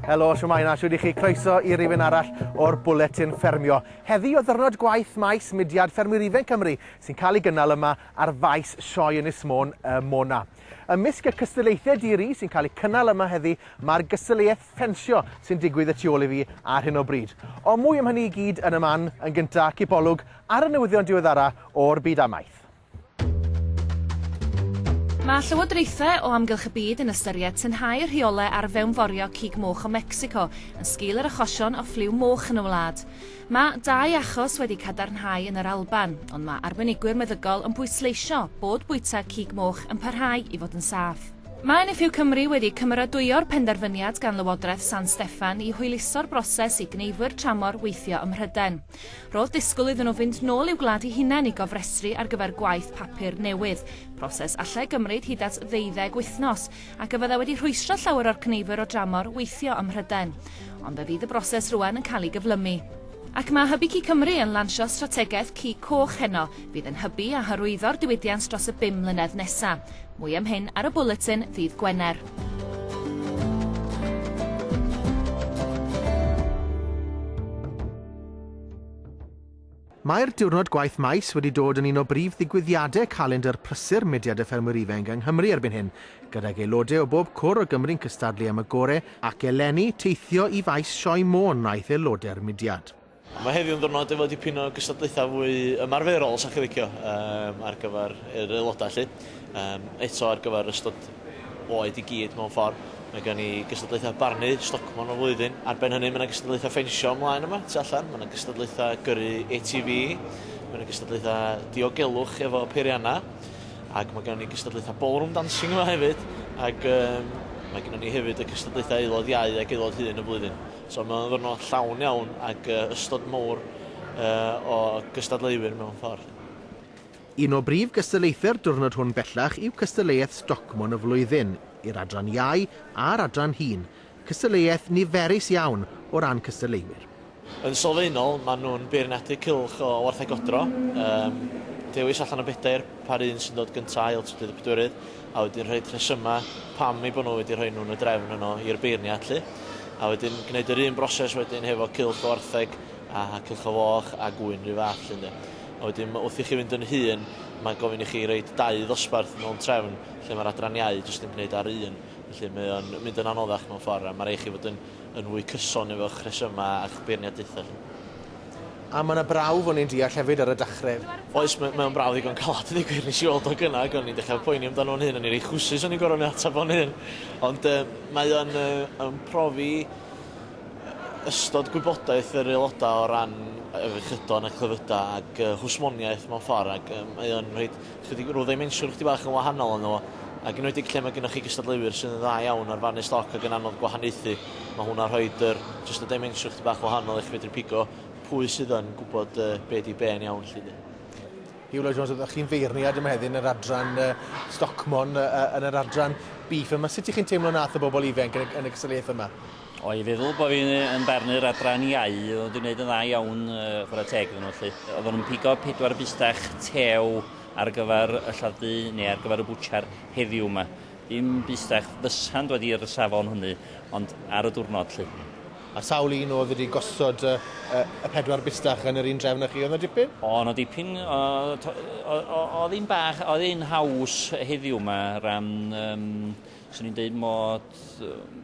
Helo, siwmai na, siwyd i chi croeso i rifyn arall o'r bwletin ffermio. Heddi o ddyrnod gwaith maes mudiad ffermwyr ifen Cymru sy'n cael ei gynnal yma ar faes sioe Ynys Môn y Mona. Ymysg y cystadlaethau di-ri sy'n cael eu cynnal yma heddi, mae'r gystadleuaeth ffensio sy'n digwydd y tu ôl i fi ar hyn o bryd. Ond mwy am hynny i gyd yn y man, yn gynta, cipolwg ar y newyddion diweddara o'r byd amaeth. Mae llywodraethau o amgylch y byd yn ystyried tynhau y rheolau ar fewnforio cig moch o Mecsico yn sgil yr achosion o ffliw moch yn y wlad. Mae dau achos wedi cadarnhau yn yr Alban, ond mae arbenigwyr meddygol yn pwysleisio bod bwyta cig moch yn parhau i fod yn saff. Mae NFU Cymru wedi cymeradwyo'r penderfyniad gan Lywodraeth San Steffan i hwyluso'r broses i gneifwyr tramor weithio ym Mhrydain. Roedd disgwyl iddyn nhw fynd nôl i'w gwlad eu hunain i gofrestru ar gyfer gwaith papur newydd, proses allai gymryd hyd at ddeuddeg wythnos, ac y byddai wedi rhwystro llawer o'r cneifwyr o dramor weithio ym Mhrydain. Ond fe fydd y broses rwan yn cael ei gyflymu. Ac mae Hybu Ci Cymru yn lansio strategaeth Ci Coch heno, fydd yn hybu a hyrwyddo'r diwydiant dros y bum mlynedd nesa'. Mwy am hyn ar y bwletin ddydd Gwener. Mae'r Diwrnod Gwaith Maes wedi dod yn un o brif ddigwyddiadau calendr prysur mudiad y Ffermwyr Ifenc yng Nghymru erbyn hyn, gydag aelodau o bob cwr o Gymru'n cystadlu am y gorau ac eleni teithio i Faes Sioe Môn wnaeth aelodau'r mudiad. Mae heddiw yn ddiwrnod efo dipyn o gystadlaethau fwy ymarferol os dach chi'n licio, ar gyfer yr aelodau 'lly, eto ar gyfer ystod oed i gyd mewn ffordd. Mae gen i gystadlaethau barnu, stocmon o'r flwyddyn. Ar ben hynny, mae yna gystadlaethau ffensio ymlaen yma, tu allan. Mae yna gystadlaethau gyrru ATV. Mae yna gystadlaethau diogelwch efo peiriannau. Ac mae gen ni gystadlaethau ballroom dancing yma hefyd. Ac um, mae gen ni hefyd y cystadlaethau aelod iau ac aelod hun y flwyddyn. So mae'n ddwrnod llawn iawn ac uh, ystod mowr uh, o gystadleuwyr mewn ffordd. Un o brif gystadlaethau'r diwrnod hwn bellach yw cystadleuaeth Stocmon y Flwyddyn i'r Adran Iau a'r Adran Hŷn, cystadleuaeth niferus iawn o ran cystadleuwyr. Yn sylfaenol, maen nhw'n beirniadu cylch o wartheg godro. Yym, dewis allan o bedair pa'r un sy'n dod gyntaf, ail, trydydd a pedwerydd, a wedyn rhoi rhesymau pam eu bod nhw wedi rhoi nhw yn y drefn yno i'r beirniad 'lly. A wedyn gwneud yr un broses wedyn hefo cylch o wartheg a cylch o foch a gŵyn 'run fath 'lly ynde. A wedyn wrth i chi fynd yn hŷn, mae'n gofyn i chi roed dau ddosbarth mewn trefn lle mae'r adran iau jyst yn gwneud ar un. Felly mae o'n mynd yn anoddach mewn ffordd a mae rhaid i chi fod yn, yn fwy cyson efo'ch rhesymau a'ch beirniadaethau chi. A mae 'na brawf o'n i'n deall hefyd ar y dachredd. Oes, mae, mae o'n brawf ddigon calad i ddweud gwir, nes i weld o gynna ac o'n i'n dechrau poeni amdano fo'n hun, o'n i'n reit chwsus o'n i'n gorfod ateb fo'n hun. Ond yy mae o'n yy yn profi ystod gwybodaeth yr aelodau o ran afiechydon a clefydau ac uh, hwsmoniaeth mewn ffordd ac um, mae o'n rhoi chydig rhyw ddimensiwn chdi bach yn wahanol yno fo ac yn wedi lle mae gennych chi gystadleuwyr sydd yn dda iawn ar fannu stoc ac yn anodd gwahaniaethu mae hwnna rhoi yr, just y dimensiwn chdi bach wahanol i chi fedru pigo pwy sydd yn gwybod uh, be di be yn iawn lli di. Hywlo Jones, ydych chi'n feirniad yma heddi yn yr adran uh, Stockmon, uh, yn yr adran Beef yma. Sut ych chi'n teimlo nath y bobl ifanc yn, yn y gystadleuaeth yma? O'i feddwl bod fi'n yn barnu'r adran iau, oedd wedi gwneud yn dda iawn uh, chwarae teg iddyn nhw felly. Oedden nhw'n pigo pedwar bustach tew ar gyfer y lladd-dy neu ar gyfer y bwtsiar heddiw yma. Dim bustach fysa'n dod i'r safon hynny, ond ar y diwrnod lly. A sawl un oedd wedi gosod y, y, y pedwar bustach yn yr un drefn â chi? Oedd yna dipyn? O, yna dipyn. Oedd hi'n bach, oedd hi'n haws heddiw yma ran um, Swn i'n deud mod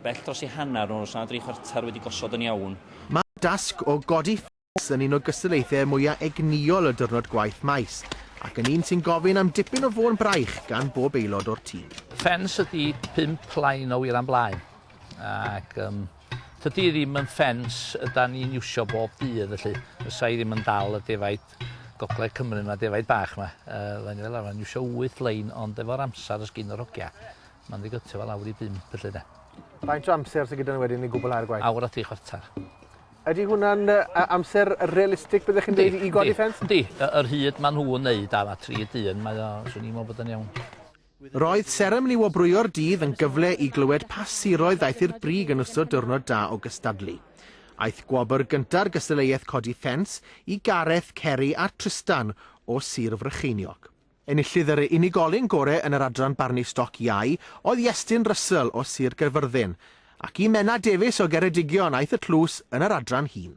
bell dros i hanner nhw, os na dri chwarter wedi gosod yn iawn. Mae'r dasg o godi ffens yn un o gystadlaethau mwyaf egnïol y diwrnod gwaith maes, ac yn un sy'n gofyn am dipyn o fôn braich gan bob aelod o'r tîm. Ffens ydi pump plaen o wir am blaen, ac um, tydi ddim yn ffens yda ni'n iwsio bob dydd, felly fysa i ddim yn dal y defaid. Gogledd Cymru yma, defaid bach yma. Uh, Rhaid ni fel arfer iwsio 8 lein, ond efo'r amser ys gyn yr hogia, mae'n ddigytio fel awr i 5 felly de. Faint o amser sy'n gyda ni wedyn i gwblhau'r gwaith? Awr a 3 chwarter. Ydy hwnna'n uh, amser realistig byddech chi'n dweud i godi ffens? Di, yr hyd maen nhw'n neud am a 3 dyn, mae o, swn i'n meddwl bod yn iawn. Roedd seremoni wobrwyo'r dydd yn gyfle i glywed pa siroedd ddaeth i'r brig yn ystod diwrnod da o gystadlu. Aeth gwobr gynta'r gystadleuaeth codi ffens i Gareth, Ceri a Trystan o Sir Frycheiniog. Enillydd yr unigolyn gore yn yr adran barnu stoc iau oedd Iestyn Russell o Sir Gaerfyrddin, ac i Menna Davies o Geredigion aeth y tlws yn yr adran hŷn.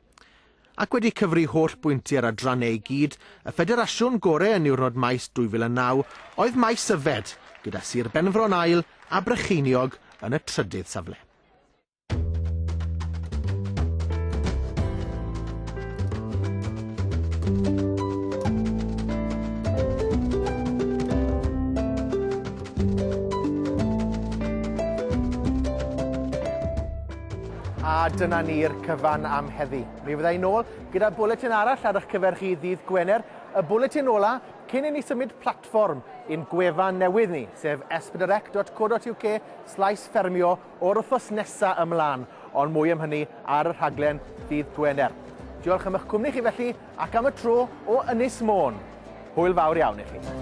Ac wedi cyfri holl bwynti ar adrannau i gyd, y ffederasiwn gore yn niwrnod Maes 2009 oedd Maes Yfed, gyda Sir Benfro yn ail a Brycheiniog yn y trydydd safle. A dyna ni'r cyfan am heddi. Mi fydda i'n ôl gyda bwletin arall ar eich cyfer chi ddydd Gwener, y bwletin ola cyn i ni symud platfform i'n gwefan newydd ni, sef esbydyrec.co.uk slaes ffermio o'r wythnos nesa ymlaen, ond mwy am hynny ar y rhaglen ddydd Gwener. Diolch am eich cwmni chi felly, ac am y tro o Ynys Môn. Hwyl fawr iawn i chi.